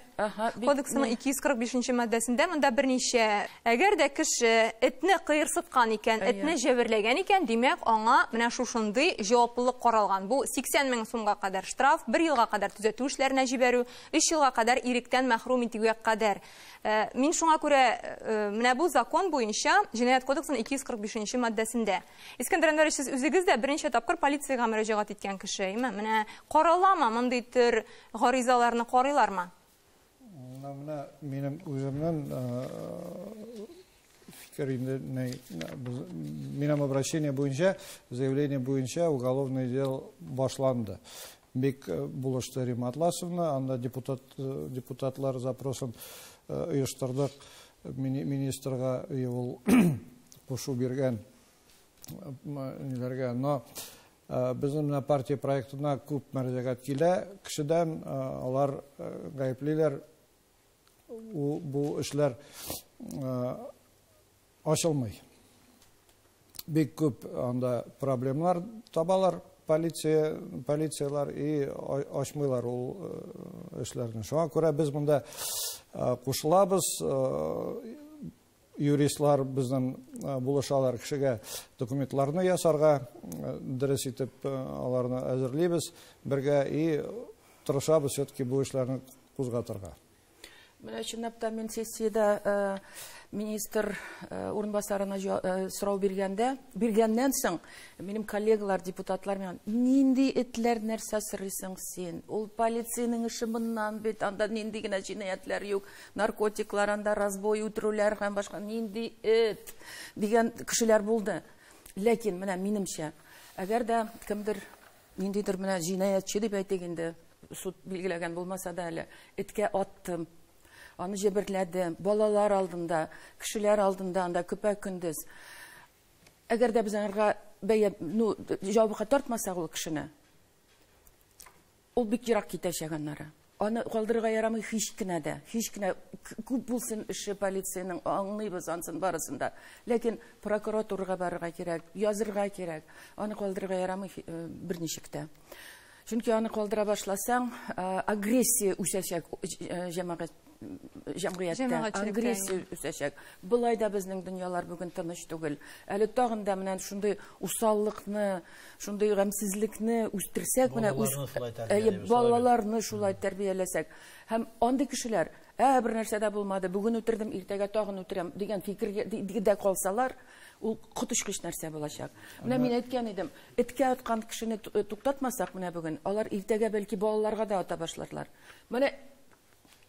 кодексының 245-нче маддәсендә монда берничә әгәр дә кеше этне кыерсыткан икән, этне җәберләгән икән, димәк, аңа менә шушындый җаваплылык каралган. Бу 80 мең сумга кадәр штраф, бер елга кадәр төзәтү эшләренә җибәрү, өч елга кадәр иректән мәхрүм итүгә кадәр. Мин шуңа күрә менә бу закон буенча, җинаять кодексының 245-нче маддәсендә. Искәндәр Әнвәрович, сез үзегез дә беренче тапкыр полициягә мөрәҗәгать иткән кеше, әйме? Менә караламы мондый төр гаризаларны карыйлармы? Менә менә минем үземнән фикер инде минем обращение буенча, заявление буенча уголовный дел башланды. Бик булышты Римма Атласовна, анда депутатлар запросын оештырдык, министрга и ул кушу биргән ниләргә, но безнең менә партия проектына күп мәрҗәгать килә кешедән, алар гаеплиләр, бу эшләр Ачылмый. Бик күп анда проблемнар табалар полиция, полицияләр и ачмыйлар ул эшләрне. Шуңа күрә без монда кушылабыз, юристлар безнең булышалар кешегә документларны ясарга, дөрес итеп аларны әзерлибез бергә и тырышабыз все-таки бу эшләрне кузгатырга. Менә чынлап та мин сессиядә министр урынбасарына сорау биргәндә, биргәннән соң минем коллегалар, депутатлар миңа, нинди этләр нәрсә сорыйсың син? Ул полициянең эше моннан бит, анда нинди генә җинаятьләр юк, наркотиклар анда, разбой, үтерүләр һәм башка, нинди эт? дигән кешеләр булды. Ләкин менә минемчә, әгәр дә кемдер Ниндидер менә җинаятьче дип әйтик инде, суд билгеләгән булмаса да әле, эткә аттым, аны җәберләдем, балалар алдында, кешеләр алдында анда көпә-көндез. Әгәр дә без аңарга бәя, ну, җавапка тартмасак ул кешене, ул бик ерак китәчәк аннары. Аны калдырырга ярамый һич кенә дә, һич кенә күп булсын эше полициянең, аңлыйбыз ансын барысын да. Ләкин прокуратурага барырга кирәк, язырга кирәк. Аны калдырырга ярамый берничек тә. Чөнки аны калдыра башласаң, агрессия үсәчәк җәмәгать җәмгыятьтә. Җәмәгатьчелектә. Агрессия үсәчәк. Болай да безнең дөньялар бүген тыныч түгел. Әле тагын да менә шундый усаллыкны, Шундый гамьсезлекне үстерсәк, менә үз балаларны шулай тәрбияләсәк, һәм андый кешеләр, ә бер нәрсә дә булмады, бүген үтердем, иртәгә тагын үтерәм дигән фикергә дә калсалар, ул коточкыч нәрсә булачак. Менә мин әйткән идем, эткә аткан кешене туктатмасак, менә бүген алар иртәгә бәлки балаларга да ата башларлар. Менә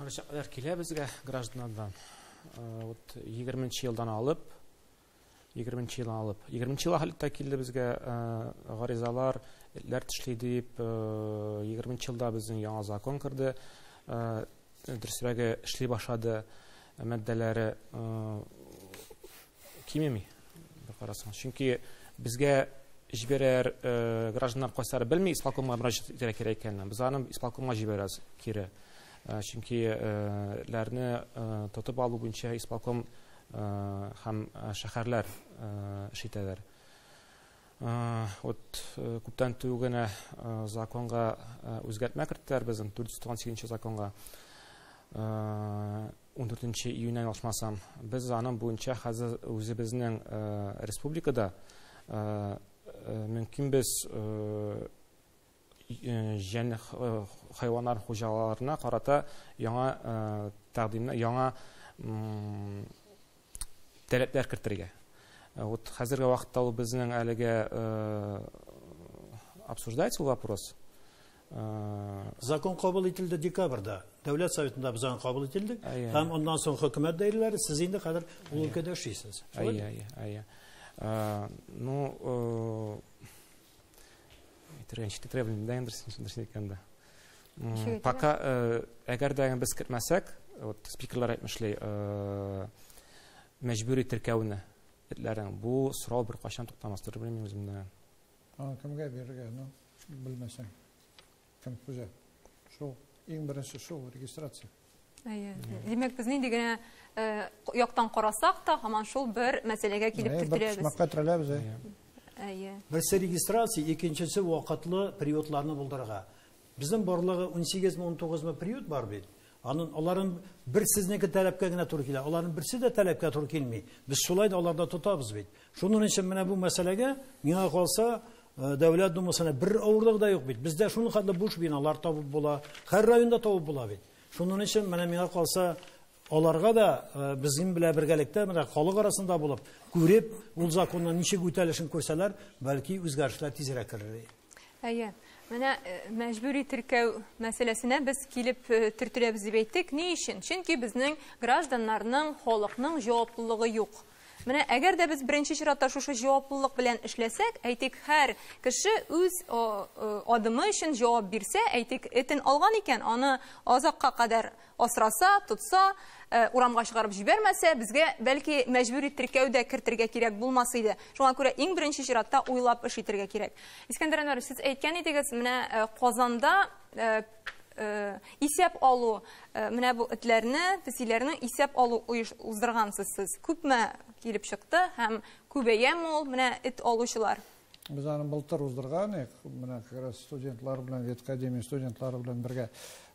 Мөрәҗәгатьләр килә безгә гражданнардан. Вот 20 нче елдан алып 20 нче елдан алып 20 нче ел хәлтә килде безгә гаризалар этләр тешли дип 20 нче елда безнең яңа закон керде. Дөресрәге эшли башлады мәддәләре Кимеми, бер карасаң. Чөнки безгә җибәрәр э, гражданнар кайсылары белми исполкомга мөрәҗәгать итәргә кирәк икәнен. Без аны исполкомга җибәрәбез кире. Э, чөнки э, ләрне тотып алу буенча исполком һәм шәһәрләр эш итәләр. Вот күптән түгел генә законга үзгәртмә керттеләр безнең 498 законга. Ундүртенче июньнән ялгышмасам. Без аның буенча хәзер үзебезнең республикада мөмкин без җән хайваннар хуҗаларына карата яңа тәкъдимнәр, яңа таләпләр кертергә. Вот хәзерге вакытта ул безнең әлегә обсуждается ул вопрос. Закон кабул ителде декабрьда. Дәүләт советында без аны кабул ителдек. Һәм аннан соң хөкүмәт даирәләре, сез инде хәзер ул өлкәдә эшлисез. Әйе, әйе, әйе. Ну, әйтергә ничек китерә белмим дә инде дөресен әйткәндә. Пока әгәр дә без кертмәсәк, вот спикерлар әйтмешли, мәҗбүри теркәүне этләрен бу сорау бер кайчан туктамас, белмим үземдә. Кемгә бирергә, ну? Белмәсәң, кем күзә? Шул, иң беренче шул, регистрация. Әйе. Димәк, без нинди генә э, яктан карасак та, һаман шул бер мәсьәләгә килеп Әйе, бер почмакка терәләбез. әйе. Әйе. Берсе регистрация, икенчесе вакытлы приютларны булдырырга. Безнең барлыгы 18 ми 19 ми приют бар бит. Анын аларын бер сезнеке таләпкә генә туры килә. Аларын берсе дә таләпкә туры килми. Без шулай да аларда тотабыз бит. Шуның өчен менә бу мәсьәләгә миңа калса э, Дәүләт думасына бер авырлык да юк бит. Бездә шуның хәтле буш биналар табып була. Һәр районда табып була бит. Шуның өчен менә миңа калса аларга да э, безнең белән бергәлектә менә халык арасында булып, күреп, ул законның ничек үтәлешен күрсәләр, бәлки үзгәрешләр тизрәк керер. Әйе. Менә э, мәҗбүри теркәү мәсьәләсенә без килеп э, төртеләбез дип әйттек. Ни өчен? Чөнки безнең гражданнарның, халыкның җаваплылыгы юк. Менә әгәр дә без беренче чиратта шушы җаваплылык белән эшләсәк, әйтик, һәр кеше үз э, адымы өчен җавап бирсә, әйтик, этен алган икән, аны азакка кадәр Асраса, тотса, урамга чыгарып җибәрмәсә, безгә, бәлки, мәҗбүри теркәү дә кертергә кирәк булмас иде. Шуңа күрә иң беренче чиратта уйлап эш итергә кирәк. Искәндәр Әнвәрович, сез әйткән идегез, менә Казанда исәп алу, менә бу этләрне, песиләрне исәп алу уздыргансыз сез. Күпме килеп чыкты һәм күбәяме ул менә эт алучылар? Без аны былтыр уздырган идек, менә как раз студентлар белән, веткадемия студентлары белән бергә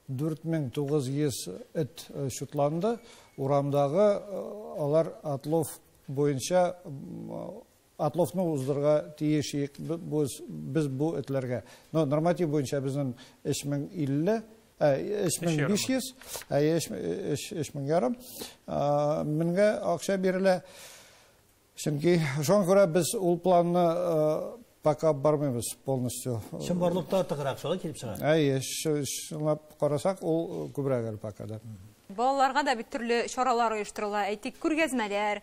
4900 эт э, чутланды. Урамдагы э, алар отлов буенча отловны уздырга тиеш идек без бу этләргә. Но норматив буенча безнең 3050 3500, ә 3000 ярым. Меңгә акча бирелә. Чөнки шуңа күрә без ул планны пока бармыйбыз полностью. Чынбарлыкта артыграк шулай килеп чыга. Әйе, чынлап карасак, ул күбрәк әле пока да. Балаларга да бит төрле чаралар оештырыла, әйтик, күргәзмәләр,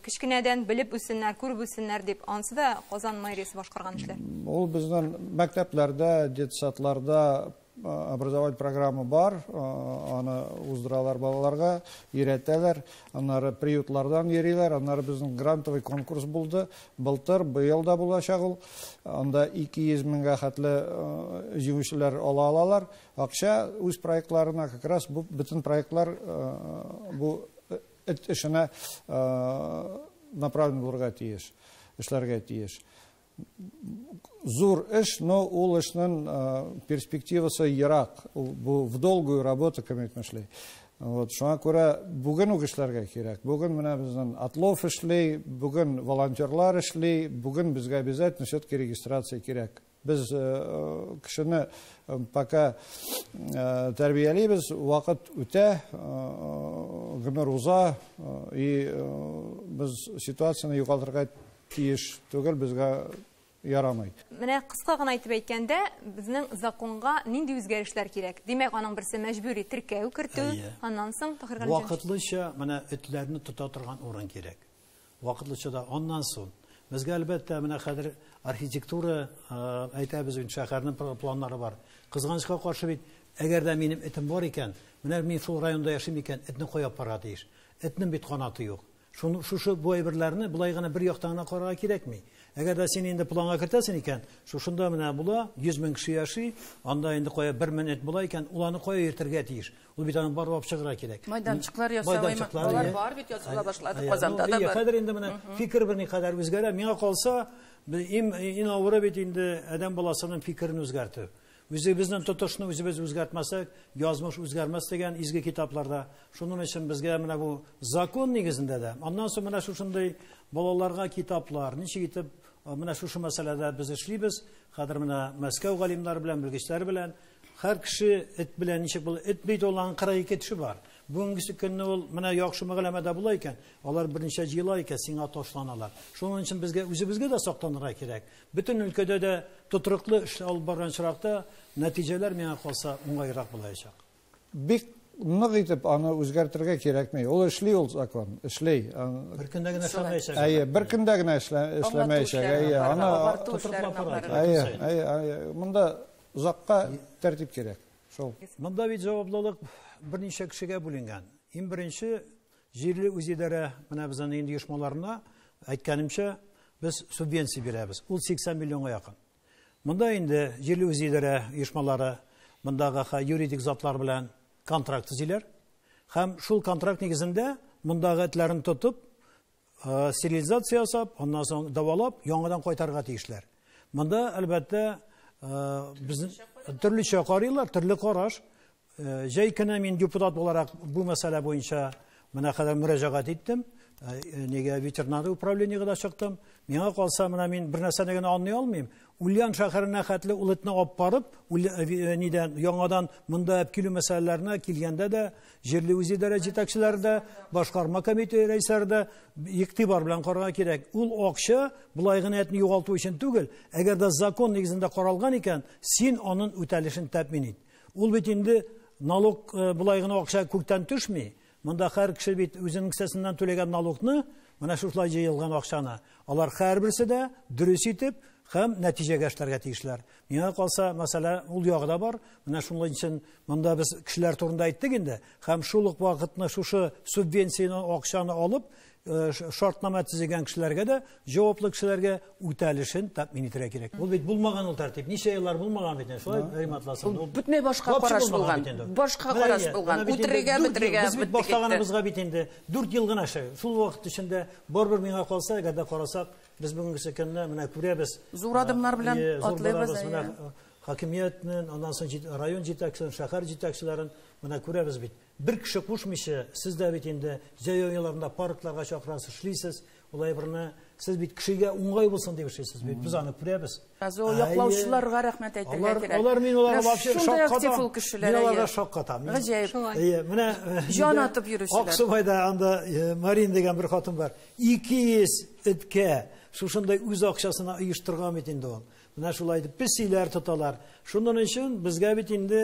кечкенәдән белеп үссеннәр, күреп үссеннәр дип, анысы да Казан мэриясе башкарган эшләр. Ул безнең мәктәпләрдә, детсадларда образовать программа бар аны уздыралар балаларга өйрәтәләр аннары приютлардан йөриләр аннары безнең грантовый конкурс булды былтыр быел да булачак ул анда 200 меңгә хәтле җиңүчеләр ала алалар акча үз проектларына как раз бу бөтен проектлар бу эт эшенә направлен булырга тиеш эшләргә тиеш Зур эш, но ул эшнен перспективасы ерак. Бу в долгую работу кемет мешли. Вот, шуңа күрә бүген үк эшләргә кирәк. Бүген менә безнен отлов эшли, бүген волонтерлар эшли, бүген безгә обязательно все-таки регистрация кирәк. Без кешене пока тәрбиялибез, вакыт үтә, гомер уза, и без ситуацияне югалтырга Тиеш түгел, безгә ярамый. Менә кыска гына итеп әйткәндә, безнең законга нинди үзгәрешләр кирәк? Димәк, аның берсе мәҗбүри теркәү кертү, аннан соң, Таһир Галимҗан. Вакытлыча менә этләрне тота торган урын кирәк. Вакытлыча да, аннан соң. Безгә, әлбәттә, менә хәзер архитектура, әйтәбез бит, шәһәрнең планнары бар. Кызганычка каршы бит, әгәр дә минем этем бар икән, менә мин шул районда яшим икән, этне кая апарырга тиеш? Этнең бит канаты юк. Шуны, шушы бу әйберләрне болай гына бер яктан гына карарга кирәкми. Әгәр дә син инде планга кертәсең икән, шушында менә була, 100 мең кеше яши, анда инде кая бер минут була икән, ул аны кая йөртергә тиеш? Ул бит аны барлап чыгарга кирәк. Майданчыклар ясау, Майданчыклар, алар иә. бар бит, ясала башлады, Ә, Казанда ну, да иә, бар. Хәзер инде менә фикер берникадәр үзгәрә. Миңа калса, бе- им- ин авыры бит инде адәм баласының фикерен үзгәртү. Үзебезнең тотышны үзебез үзгәртмәсәк, язмыш үзгәрмәс дигән изге китапларда. Шуның өчен безгә менә бу закон нигезендә дә. Аннан соң менә шушындый балаларга китаплар, ничек итеп менә шушы мәсьәләдә без эшлибез. Хәзер менә Мәскәү галимнары белән, белгечләр белән һәр кеше эт белән ничек бул эт бит ул аның 42 теше бар бүгенге көнне ул менә яхшы мәгъләмәдә була икән алар берничә җыела икән сиңа ташланалар шуның өчен безгә үзебезгә дә сактанырга кирәк Бөтен өлкәдә дә тотрыклы эш алып барган очракта, нәтиҗәләр миңа калса уңайрак булаячак. Бик нык итеп аны үзгәртергә кирәкми. Ул эшли ул закон, эшли. Бер көндә генә эшләмәячәк. Әйе, бер көндә генә эшләмәячәк. Әйе, аны агарту эшләрен алып бару. Әйе, әйе, әйе. Монда озакка тәртип кирәк. Шул. Монда бит җаваплылык берничә кешегә бүленгән. Иң беренче Җирле үзидарә менә без аны инде оешмаларына, әйткәнемчә, без субвенция бирәбез. Ул 80 миллионга якын. Монда инде җирле үзидарә оешмалары мондагы юридик затлар белән контракт төзиләр һәм шул контракт нигезендә мондагы этләрен тотып, э, стерилизация ясап, аннан соң дәвалап, яңадан кайтарырга тиешләр. Монда, әлбәттә, э, безнең төрлечә карыйлар, төрле караш. Җәй көне мин депутат буларак бу мәсьәлә буенча менә кадәр мөрәҗәгать иттем. Нигә ветеринар управлениегә дә чыктым. Миңа калса, менә мин бер нәрсәне генә аңлый алмыйм. Ульян шәһәренә хәтле ул этне алып барып, нидән яңадан монда алып килү мәсьәләләренә килгәндә дә, җирле үзидарә җитәкчеләре дә, башкарма комитет рәисләре дә игътибар белән карарга кирәк. Ул акча болай гына этне югалту өчен түгел. Әгәр дә закон нигезендә каралган икән, син аның үтәлешен тәэмин ит. Ул бит инде налог болай гына акча күктән төшми. Монда һәр кеше бит үзенең кесәсеннән түләгән налогны, менә шушылай җыелган акчаны, алар һәрберсе дә дөрес итеп һәм нәтиҗәгә эшләргә тиешләр. Миңа калса, мәсьәлә ул ягы да бар. Менә шуның өчен монда без кешеләр турында әйттек инде һәм шул ук вакытны шушы субвенцияне акчаны алып, Э, шартнама төзегән кешеләргә дә җаваплы кешеләргә үтәлешен тәэмин итәргә кирәк ул бит булмаган ул тәртип ничә еллар булмаган бит инде шулай риматласын ул бөтенләй башка караш булган башка караш булган үтерергә бетерергә без бит башлаганыбызга бит инде дүрт ел гына шул шул вакыт эчендә барыбер миңа калса әгәр дә карасак без бүгенгесе көнне менә күрәбез зур адымнар белән атлыйбыз менә хакимиятнен аннан соң район җитәкчеләрен шәһәр җитәкчеләрен менә күрәбез бит Бер кеше кушмыйча, сез дә бит инде җәй аяларында паркларга чакырасыз, эшлисез. Ул әйберне сез бит кешегә уңай булсын дип эшлисез бит. Без аны күрәбез. Газо яклаучыларга рәхмәт әйтергә кирәк. Алар, алар мин аларга вообще шаккатам. Мин аларга шаккатам. Гаҗәеп. Әйе, менә җан атып йөрүчеләр. Аксубайда анда э, Марин дигән бер хатын бар. 200 эткә шушындай үз акчасына оештырган бит инде ул. Менә шулай итеп песиләр тоталар. Шуның өчен безгә бит инде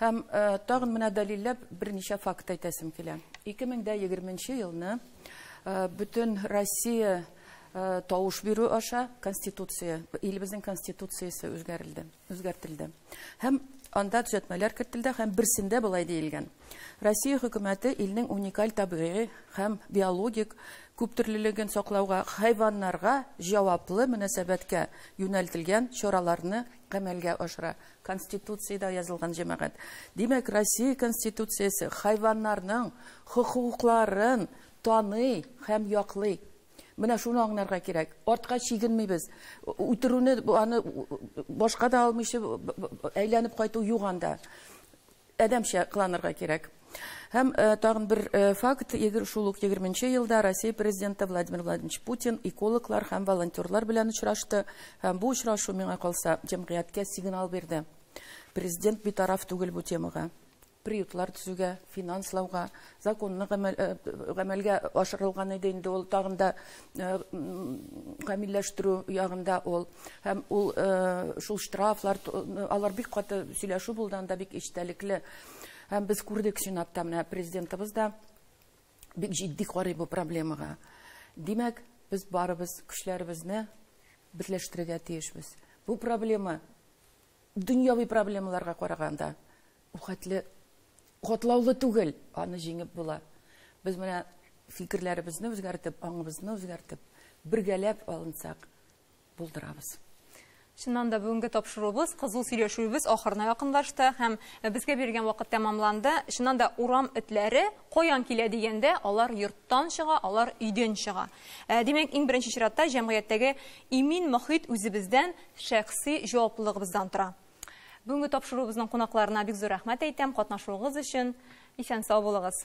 Һәм тагын менә дәлилләп берничә факт әйтәсем килә. 2020 елны бөтен Россия тавыш бирү аша Конституция, илебезнең Конституциясе үзгәрелде, үзгәртелде. Һәм анда төзәтмәләр кертелде һәм берсендә болай диелгән. Россия хөкүмәте илнең уникаль табигый һәм биологик күптөрлелеген саклауга, хайваннарга җаваплы мөнәсәбәткә юнәлтелгән чараларны гамәлгә ашыра. Конституциядә язылган җәмәгать. Димәк, Россия Конституциясе хайваннарның хокукларын таный һәм яклый. Менә шуны аңларга кирәк. Артка чигенмибез. Үтерүне, аны башка да алмыйча әйләнеп кайту юк анда. Адәмчә кыланырга кирәк. Һәм тагын бер факт, шул ук егерме нче елда Россия Президенты Владимир Владимирович Путин экологлар һәм волонтерлар белән очрашты, һәм бу очрашу, миңа калса, җәмгыятькә сигнал бирде. Президент битараф түгел бу темага. Приютлар төзүгә, финанслауга, законны гамәлгә ашырылган иде инде ул, тагын да Э, камилләштерү ягында ул һәм ул э, шул штрафлар э, алар бик каты сөйләшү булды анда бик эчтәлекле һәм без күрдек сенатта менә президентыбыз да бик җитди карый бу проблемага димәк без барыбыз көчләребезне берләштерергә тиешбез бу проблема дөньяви проблемаларга караганда Бу хәтле катлаулы түгел, аны җиңеп була. Без менә фикерләребезне үзгәртеп, аңыбызны үзгәртеп, бергәләп алынсак, булдырабыз. Чыннан да бүгенге тапшыруыбыз, кызу сөйләшүебез ахырына якынлашты һәм безгә бирелгән вакыт тәмамланды. Чыннан да урам этләре каян килә дигәндә, алар йорттан чыга, алар өйдән чыга. Ә, димәк, иң беренче чиратта җәмгыятьтәге имин мохит үзебездән, шәхси җаваплылыгыбыздан тора. Бүгенге тапшыруыбызның кунакларына бик зур рәхмәт әйтәм катнашуыгыз өчен. Исән сау булыгыз.